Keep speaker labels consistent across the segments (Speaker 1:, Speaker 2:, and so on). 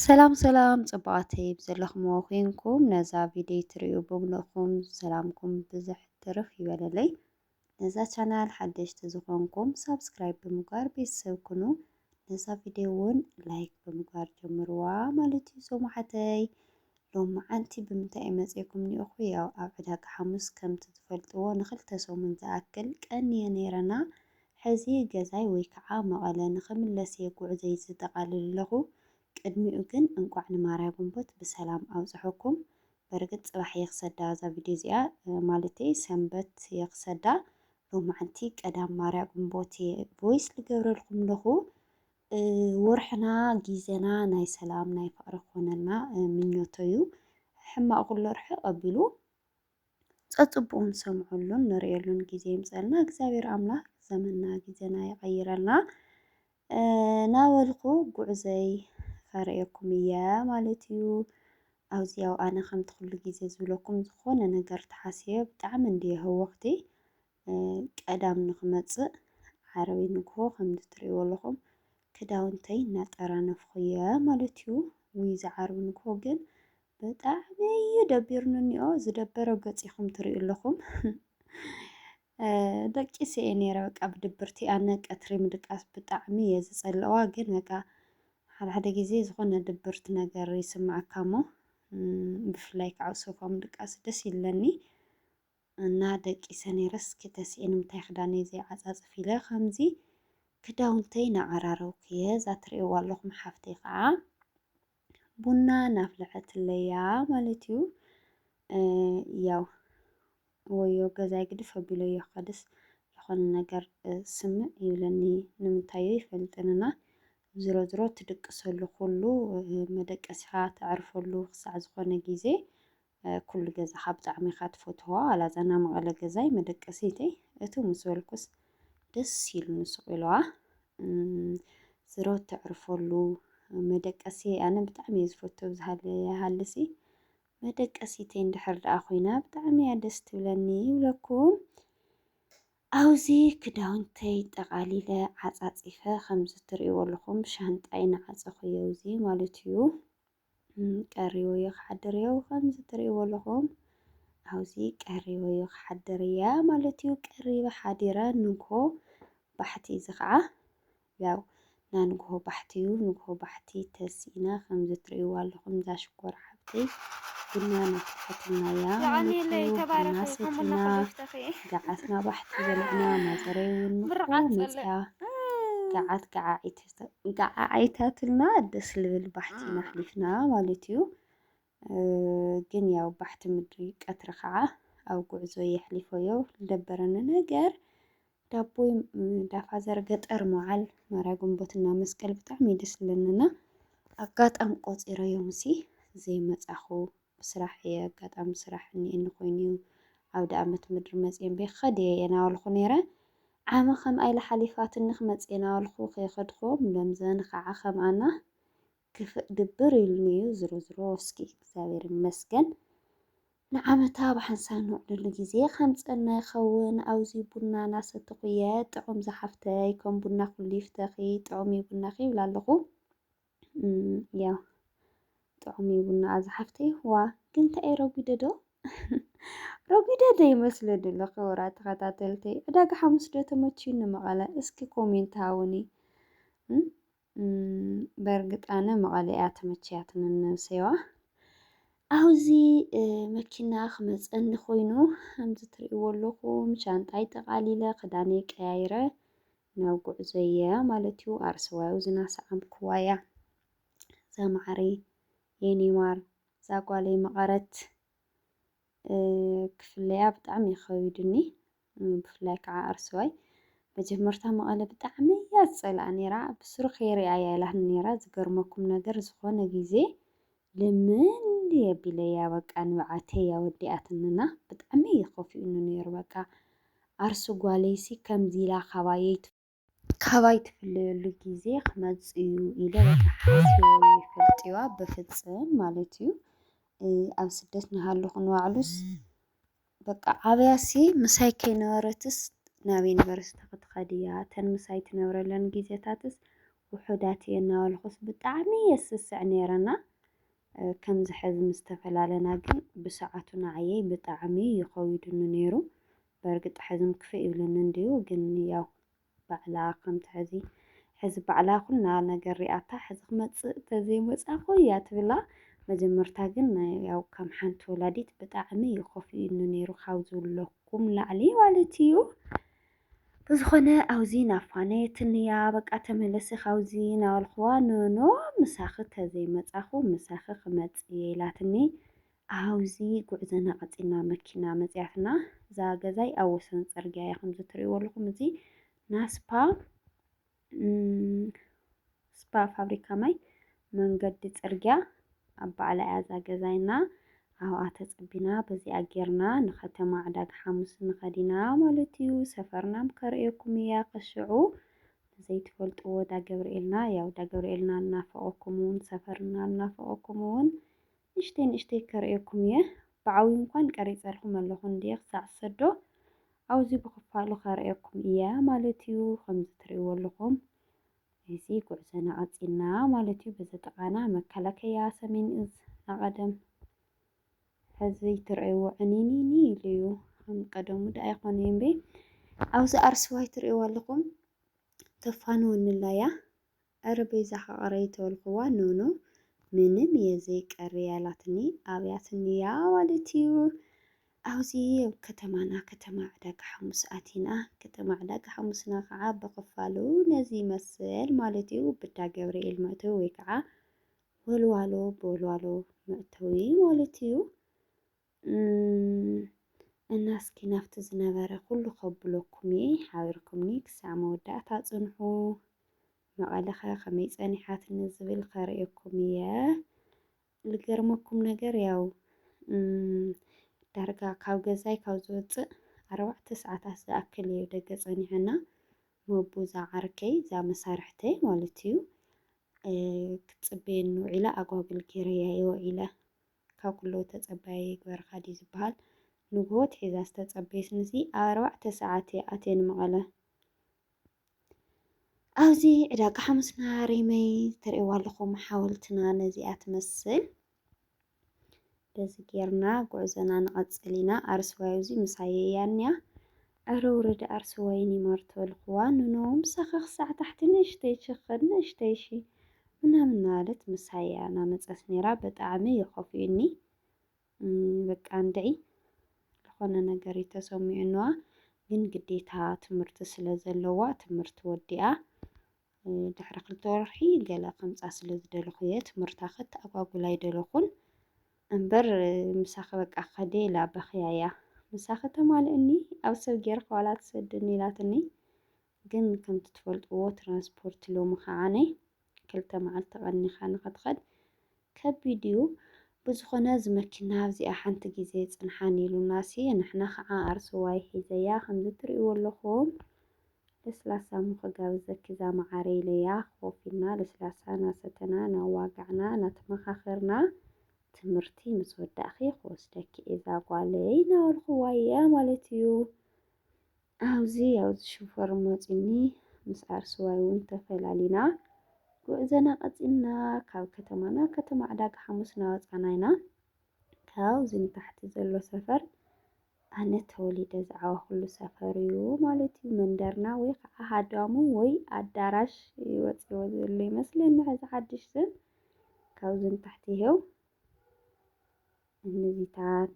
Speaker 1: ሰላም ሰላም ጽቡቓተይ ብዘለኹምዎ ኮንኩም ነዛ ቪድዮ ትርእዩ ብምልእኹም ሰላምኩም ብዝሕ ትርፍ ይበለለይ። ነዛ ቻናል ሓደሽቲ ዝኾንኩም ሳብስክራይብ ብምግባር ቤተሰብ ኩኑ። ነዛ ቪድዮ እውን ላይክ ብምግባር ጀምርዋ ማለት እዩ። ሶማሓተይ ሎም መዓንቲ ብምንታይ እዩ መጺእኩም ኒኦኹ? ያው ኣብ ዕዳጋ ሓሙስ ከምቲ ትፈልጥዎ ንክልተ ሰሙን ዝኣክል ቀንየ ነይረና ሕዚ ገዛይ ወይ ከዓ መቐለ ንኽምለስ እየ ጉዕዞይ ዝጠቓልል ኣለኹ። ቅድሚኡ ግን እንቋዕ ንማርያ ግንቦት ብሰላም ኣብፀሐኩም። በርግፅ ፅባሕ እየ ክሰዳ እዛ ቪድዮ እዚኣ ማለተይ ሰንበት እየ ክሰዳ ሎማዕንቲ ቀዳም ማርያ ግንቦት እየ ቮይስ ልገብረልኩም ኣለኹ። ወርሕና ጊዘና ናይ ሰላም ናይ ፍቕሪ ክኾነልና ምኞቶ እዩ። ሕማቕ ኩሎ ርሕቕ ኣቢሉ ጸጽቡቁ ንሰምዐሉን ንርእየሉን ግዜ ይምጸልና እግዚኣብሔር ኣምላክ ዘመና ግዜና ይቀይረልና ናበልኩ ጉዕዘይ ከርእየኩም እየ ማለት እዩ ኣብዚ ያው ኣነ ከምቲ ኩሉ ግዜ ዝብለኩም ዝኾነ ነገር ተሓስየ ብጣዕሚ እንድየ ህውኽቲ ቀዳም ንክመፅእ ዓርቢ ንግሆ ከምዚ ትሪእዎ ኣለኹም ክዳውንተይ እናጠራነፍኹየ ማለት እዩ። ውይ ዝዓርቢ ንግሆ ግን ብጣዕሚ እዩ ደቢሩኒ እኒኦ ዝደበረ ገፅ ኢኹም ትሪኡ ኣለኹም ደቂሰ እየ ነይረ በቃ ብድብርቲ ኣነ ቀትሪ ምድቃስ ብጣዕሚ እየ ዝፀልዋ ግን በቃ ሓደ ሓደ ግዜ ዝኾነ ድብርቲ ነገር ይስማዓካ እሞ ብፍላይ ከዓ ኣብ ሶፋ ምድቃስ ደስ ይብለኒ እና ደቂሰ ነይረስ ክተስኤ ንምታይ ክዳነይ ዘይዓጻጽፍ ኢለ ከምዚ ክዳውንተይ ናዓራረውኩየ እዛ ትርእይዋ ኣለኹም ሓፍተይ ከዓ ቡና ናፍለሐትለያ ማለት እዩ ያው ወዮ ገዛይ ግድፍ ኣቢለዮ ከድስ ዝኾነ ነገር ስምእ ይብለኒ ንምንታዮ ይፈልጥንና ዝሮ ዝሮ ትድቅሰሉ ኩሉ መደቀሲኻ ተዕርፈሉ ክሳዕ ዝኾነ ግዜ ኩሉ ገዛኻ ብጣዕሚ ኢኻ ትፈትዎ ዋላ እዛ ናይ መቐለ ገዛይ መደቀሲተይ እቱ ምስ በልኩስ ደስ ኢሉኒ ሱቕ ኢልዋ ስረ ተዕርፈሉ መደቀሲ ኣነ ብጣዕሚ እየ ዝፈቱ ብዝሃለ ይሃልሲ መደቀሲተይ እንድሕር ደኣ ኮይና ብጣዕሚ እያ ደስ ትብለኒ ይብለኩም ኣብዚ ክዳውንተይ ጠቓሊለ ዓፃፂፈ ከምዚ ትርእይዎ ኣለኹም ሻንጣይ ንዓፀኹ እየ እዚ ማለት እዩ ቀሪቡ እዩ ክሓድር እዩ ከምዚ ትርእይዎ ኣለኹም ኣብዚ ቀሪቡ እዩ ክሓድር እያ ማለት እዩ ቀሪበ ሓዲረ ንግሆ ባሕቲ እዚ ከዓ ያው ናይ ንግሆ ባሕቲ እዩ ንግሆ ባሕቲ ተሲእና ከምዚ ትርእይዎ ኣለኹም እዛ ሽኮር ሓብተይ ቡና ናፍልሐትና እያ ማለት እዩ ቡና ሰቲና ገዓትና ባሕቲ በሊዕና ማዘረይ እውን ንግሆ መፅያ ገዓት ገዓዒት እንቃዓዓይታትልና ደስ ልብል ባሕቲ ኣሕሊፍና ማለት እዩ። ግን ያው ባሕቲ ምድሪ ቀትሪ ከዓ ኣብ ጉዕዞ የሕሊፎዮ ዝደበረኒ ነገር ዳቦይ ዳፋዘር ገጠር መዓል ማርያ ግንቦትና መስቀል ብጣዕሚ ደስ ዝብለኒና ኣጋጣም ቆፂረዮም ሲ ዘይመፃኹ ስራሕ እየ ኣጋጣሚ ስራሕ እኒኤኒ ኮይኑ እዩ ኣውደኣመት ምድሪ መፅየ እምበይ ክኸድ እየ የናበልኹ ነይረ ዓመ ከምኣ ኢላ ሓሊፋትኒ ክመፅእ የናበልኹ ከይኸድኹ ለምዘን ኸዓ ከምኣና ክፍእ ግብር ኢሉኒ እዩ ዝሮዝሮ እስኪ እግዚኣብሔር ይመስገን ንዓመታ ብሓንሳብ ንውዕለሉ ግዜ ከምፀና ይኸውን ኣውዚ ቡና ናሰተኹ እየ ጥዑም ዝሓፍተይ ከም ቡና ኩሉ ይፍተኺ ጥዑም እዩ ቡናኺ ይብላ ኣለኹ ያው ጥዑም እዩ ቡና ኣዛ ሓፍተ ይህዋ ግን እንታይ እዩ ረጒደ ዶ ረጒደ ዶ ይመስለ ድሎ ክብራ ተኸታተልተይ ዕዳጋ ሓሙስ ዶ ተመችዩ ንመቐለ እስኪ ኮሜንት ሃውኒ በእርግጥ ኣነ መቐለ እያ ተመችያትኒ ንሰዋ ኣብዚ መኪና ክመፀኒ ኮይኑ ከምዚ ትርእይዎ ኣለኹም ሻንጣይ ጠቓሊለ ክዳነይ ቀያይረ ናብ ጉዕዞያ ማለት እዩ ኣርስዋዩ ዝናሰዓምክዋያ ዛማዓረይ የኔማር ዛጓለይ መቐረት ክፍለያ ብጣዕሚ እዩ ከቢዱኒ ብፍላይ ከዓ ኣርስዋይ መጀመርታ መቐለ ብጣዕሚ እያ ዝፀልኣ ነይራ ብስሩ ከይሪኣያ ኢላኒ ነይራ ዝገርመኩም ነገር ዝኾነ ግዜ ልምልም የቢለያ በቃ ንብዓተይ ኣወዲኣትንና ብጣዕሚ እዩ ከፊኡኒ ነይሩ በቃ ዓርሲ ጓለይሲ ከምዚ ኢላ ካባየይ ካባይ ትፍለየሉ ግዜ ክመጽእ እዩ ኢለ በቃ ሓሲበ ይፈልጥዋ ብፍጽም ማለት እዩ ኣብ ስደት ንሃለኹ ንባዕሉስ በቃ ዓብያሲ ምሳይ ከይነበረትስ ናብ ዩኒቨርሲቲ ክትኸድ እያ፣ እተን ምሳይ ትነብረለን ግዜታትስ ውሑዳት እየን እናበልኩስ ብጣዕሚ እየ ዝስስዕ ነይረና። ከምዚ ሕዚ ምስ ተፈላለና ግን ብሰዓቱ ንዓየይ ብጣዕሚ እዩ ከዊዱኒ ነይሩ። በርግጥ ሕዝም ክፍእ ይብለኒ እንድዩ ግን ያው ባዕላ ከምቲ ሕዚ ሕዚ ባዕላ ኩላ ነገር ሪኣታ ሕዚ ክመጽእ ተዘይ መጻኹ እያ ትብላ መጀመርታ ግን ያው ከም ሓንቲ ወላዲት ብጣዕሚ እዩ ኮፊኡኒ ነይሩ ካብ ዝብለኩም ላዕሊ ማለት እዩ ብዝኾነ ኣውዚ ናፋነየትኒ እያ በቃ ተመለሲ ካብዚ ናበልክዋ ኖኖ ምሳኺ ተዘይመፃኹ ምሳኺ ክመፅእ እየ ኢላትኒ ኣብ'ዚ ጉዕዘና ቀጺልና መኪና መጺኣትና። እዛ ገዛይ ኣብ ወሰን ጽርግያ እያ ከምዚ ትርእይዎ ኣለኹም። እዚ ናስፓ ስፓ ፋብሪካ ማይ መንገዲ ጽርግያ ኣብ ባዕላ እያ እዛ ገዛይና። ኣብኣ ተጸቢና በዚኣ ጌርና ንከተማ ዕዳጋ ሓሙስ ንኸድ ኢና ማለት እዩ። ሰፈርናም ከርእየኩም እያ ከሽዑ ዘይትፈልጥዎ ዳገብርኤልና ያው ዳገብርኤልና እናፈቐኩም እውን ሰፈርና እናፈቐኩም እውን ንእሽተይ ንእሽተይ ከርእየኩም እየ ብዓውዩ እንኳን ቀሪጸልኩም ኣለኹ እንድየ ክሳዕ ዝሰዶ ኣውዝዩ ብኽፋሉ ከርእየኩም እየ ማለት እዩ ከምዚ ትርእይዎ ኣለኹም እዚ ጉዕዘና ቀጺልና ማለት እዩ በዚ ጥቓና መከላከያ ሰሜን እዝ ናቐደም ሕዚ ትርእይዎ ዕኒኒኒ ኢሉ እዩ ከም ቀደሙ ዳ ኣይኮነ እምበይ ኣብዚ ኣርስዋይ ትርእይዎ ኣለኹም ተፋንወኒ ላያ እረ በይዛኻ ቕረይ ተበልኩዋ ኖኖ ምንም እየ ዘይቀርያ ኢላትኒ ኣብያትኒ እያ ማለት እዩ ኣብዚ ኣብ ከተማና ከተማ ዕዳጋ ሓሙስ ኣቲና ከተማ ዕዳጋ ሓሙስና ከዓ ብኽፋሉ ነዚ ይመስል ማለት እዩ ብዳ ገብርኤል መእተዊ ወይ ከዓ ወልዋሎ ብወልዋሎ መእተዊ ማለት እዩ እም እና እስኪ ናብቲ ዝነበረ ኩሉ ከብሎኩም እየ ሓቢርኩምኒ ክሳዕ መወዳእታ ጽንሑ መቐለ ከ ከመይ ጸኒሓትኒ ዝብል ከርእየኩም እየ ልገርመኩም ነገር ያው እም ዳርጋ ካብ ገዛይ ካብ ዝወጽእ ኣርባዕተ ሰዓታት ዝኣክል እዩ ደገ ጸኒሐና መቡ እዛ ዓርከይ እዛ መሳርሕተይ ማለት እዩ ክትጽበየኒ ውዒላ ኣጓግል ጌረያ እየ ውዒለ ካብ ኩሉ ተጸባያይ ይግበርካ ድዩ ዝብሃል። ንግሆ ኣትሒዛ ዝተጸበየትኒሲ ኣብ ኣርባዕተ ሰዓት እየ ኣትየ ንመቐለ። ኣብዚ ዕዳጋ ሓሙስና ሪመይ ትርእይዋ ኣለኹም ሓወልትና ነዚኣ ትመስል። በዚ ጌርና ጉዕዞና ንቐጽል ኢና። ኣርስዋይ ኣብዚ ምሳየ እያ እኒኣ። ኣረ ውረዲ ዓርሰ ወይኒ ማርቶ ልክዋ ኑኑ ምሳካ ክሳዕ ታሕቲ ንእሽተይ ችክን ንእሽተይ እሺ ምናምን እናበለት ምሳይ እያ ናመፀት ነይራ በጣዕሚ እዩ ከፊኡኒ በቃ እንድዒ ዝኾነ ነገር እዩ ተሰሚዑንዋ ግን ግዴታ ትምህርቲ ስለ ዘለዋ ትምህርቲ ወዲኣ ድሕሪ ክልተ ወርሒ ገለ ከምፃ ስለ ዝደለኹ እየ ትምህርታ ከተኣጓጉል ኣይደለኹን እምበር ምሳኺ በቃ ከደ ኢላ በኽያ እያ ምሳኺ ተማልእኒ ኣብ ሰብ ጌርካ ዋላ ትሰድኒ ኢላትኒ ግን ከምቲ ትፈልጥዎ ትራንስፖርት ሎሚ ከዓነ ክልተ መዓልቲ ቀኒኻ ንኸትኸድ ከቢድ እዩ ብዝኮነ ዝመኪና ኣብዚኣ ሓንቲ ግዜ ጽንሓኒ ኢሉናሲ ንሕና ክዓ ኣርሱዋይ ሒዘያ ከምዚ ትሪእዎ ኣለኩም ለስላሳ እሞ ክጋብዘኪ ዛማዓረይ ኢለያ ኮፍ ኢልና ለስላሳ ናሰተና ናዋጋዕና ናተማካከርና ትምህርቲ ምስ ወዳእኪ ክወስደኪ እየ ዛጓለይ ናበልኩዋ እየ ማለት እዩ ኣብዚ ኣብዚ ሽፈር መጺኒ ምስ ዓርሱዋይ ውን ተፈላሊና ጉዕዘና ቀጺልና ካብ ከተማ ናብ ከተማ ዕዳጋ ሓሙስ ናወጻና ኢና ካብዚ ንታሕቲ ዘሎ ሰፈር ኣነ ተወሊደ ዝዓበኹሉ ሰፈር እዩ ማለት እዩ መንደርና ወይ ከዓ ሃዳሙ ወይ ኣዳራሽ ይወጽዎ ዘሎ ይመስለኒ ሕዚ ሓድሽ ስም ካብዚ ንታሕቲ ይሄው ንዚታት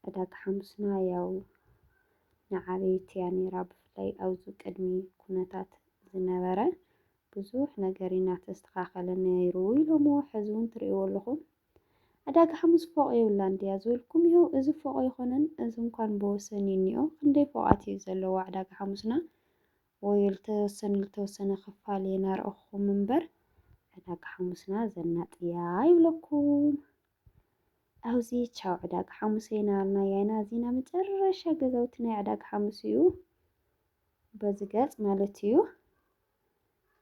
Speaker 1: ዕዳጋ ሓሙስና ያው ንዓበይቲ እያ ነይራ። ብፍላይ ኣብዚ ቅድሚ ኩነታት ዝነበረ ብዙሕ ነገር እናተስተኻኸለ ነይሩ ኢሎሞ ሕዚ እውን ትርእይዎ ኣለኹም። ዕዳጋ ሓሙስ ፎቕ የብላን ድያ ዝበልኩም ይኸው እዚ ፎቕ ይኾነን እዚ እንኳን ብወሰን እኒኦ ክንደይ ፎቓት እዩ ዘለዋ ዕዳጋ ሓሙስና ወይ ልተወሰነ ልተወሰነ ክፋል እየ ናርኣኹኹም እምበር ዕዳጋ ሓሙስና ዘናጥያ ይብለኩም ኣብዚ ቻው ዕዳጋ ሓሙሰ ኢና ኣልናያ ኢና እዚና መጨረሻ ገዛውቲ ናይ ዕዳጋ ሓሙስ እዩ በዚ ገጽ ማለት እዩ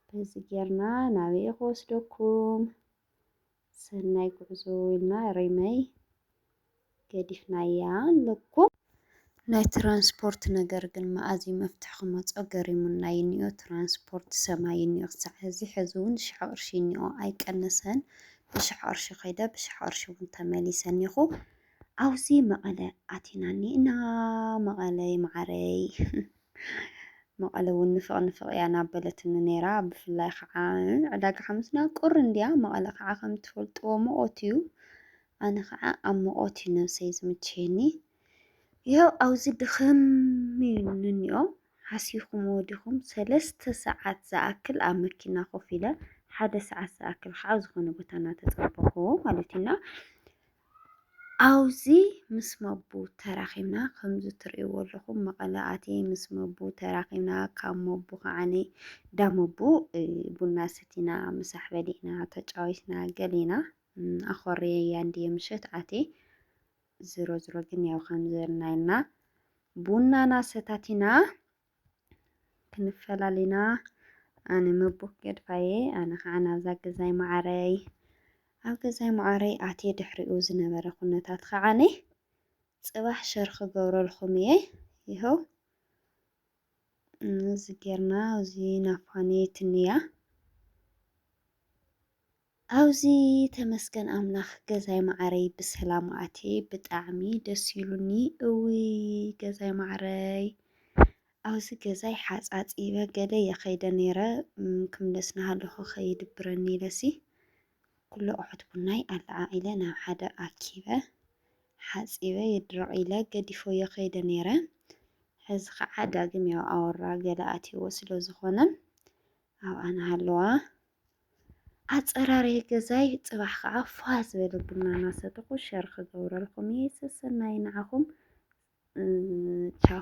Speaker 1: በዚ ጌርና ናበየ ክወስደኩም ሰናይ ጉዕዞ ኢልና ሪመይ ገዲፍናያ ኣለኩ። ናይ ትራንስፖርት ነገር ግን መኣዝ እዩ መፍትሒ ክመጾ ገሪሙና ይኒኦ ትራንስፖርት ሰማይ ይኒኦ ክሳዕ ሕዚ ሕዚ እውን ሽሕ ቅርሺ ይኒኦ ኣይቀነሰን ብሽሕ ቅርሺ ከይደ ብሽሕ ቅርሺ እውን ተመሊሰ እኒኹ ኣውዚ መቐለ ኣቲና እኒእና መቐለ ይመዓረይ መቐለ እውን ንፍቕ ንፍቕ እያ እናበለትኒ ነይራ። ብፍላይ ከዓ ዕዳጋ ሓሙስና ቁር እንድያ፣ መቐለ ከዓ ከም ትፈልጥዎ ሙቐት እዩ። ኣነ ከዓ ኣብ ሙቐት እዩ ነብሰይ ዝምችየኒ። ያው ኣብዚ ድኽም ንኒኦ ሓሲኹምዎ ዲኹም ሰለስተ ሰዓት ዝኣክል ኣብ መኪና ኮፍ ኢለ ሓደ ሰዓት ዝኣክል ከዓ ዝኾነ ቦታ እናተፀበኹዎ ማለት እዩና ኣብዙ ምስ መቡ ተራኺብና ከምዙ ትርእይዎ ኣለኹም መቐለ ኣትየ ምስ መቡ ተራኺብና ካብ መቡ ከዓኒ ዳመቡ ቡና ሰቲና ምሳሕ በሊዕና ተጫዊትና ገሊና ኣኾርየ ያንድየ ምሸት ኣትየ ዝሮ ዝሮ ግን ያው ከምዘልናይና ቡናና ሰታቲና ክንፈላሊና ኣነ ምቡክ ገድፋየ ኣነ ከዓ ናብዛ ገዛይ መዓረይ ኣብ ገዛይ መዓረይ ኣትየ ድሕሪኡ ዝነበረ ኩነታት ከዓኒ ጽባሕ ሸር ክገብረልኩም እየ ይኸው እዚ ጌርና እዚ ናፋኒ ትንያ ኣብዙ ተመስገን ኣምላክ ገዛይ ማዓረይ ብሰላም ኣትየ ብጣዕሚ ደስ ኢሉኒ እውይ ገዛይ ማዓረይ ኣብዚ ገዛይ ሓፃፂበ ገለ የከይደ ነይረ ክምለስ ናሃለኩ ከይድብረኒ ኢለሲ ኩሉ ኣቁሑት ቡናይ ኣለዓዒለ ናብ ሓደ ኣኪበ ሓፂበ የድረቅ ኢለ ገዲፎ የከይደ ነይረ ሕዚ ከዓ ዳግም ያው ኣወራ ገለ ኣትየዎ ስለዝኮነ ኣብኣ ናሃለዋ ኣፀራርየ ገዛይ ፅባሕ ከዓ ፏ ዝበለ ቡና እናሰተኹ ሸር ክገብረልኩም እየ ሰሰናዩ ንዓኹም ቻው።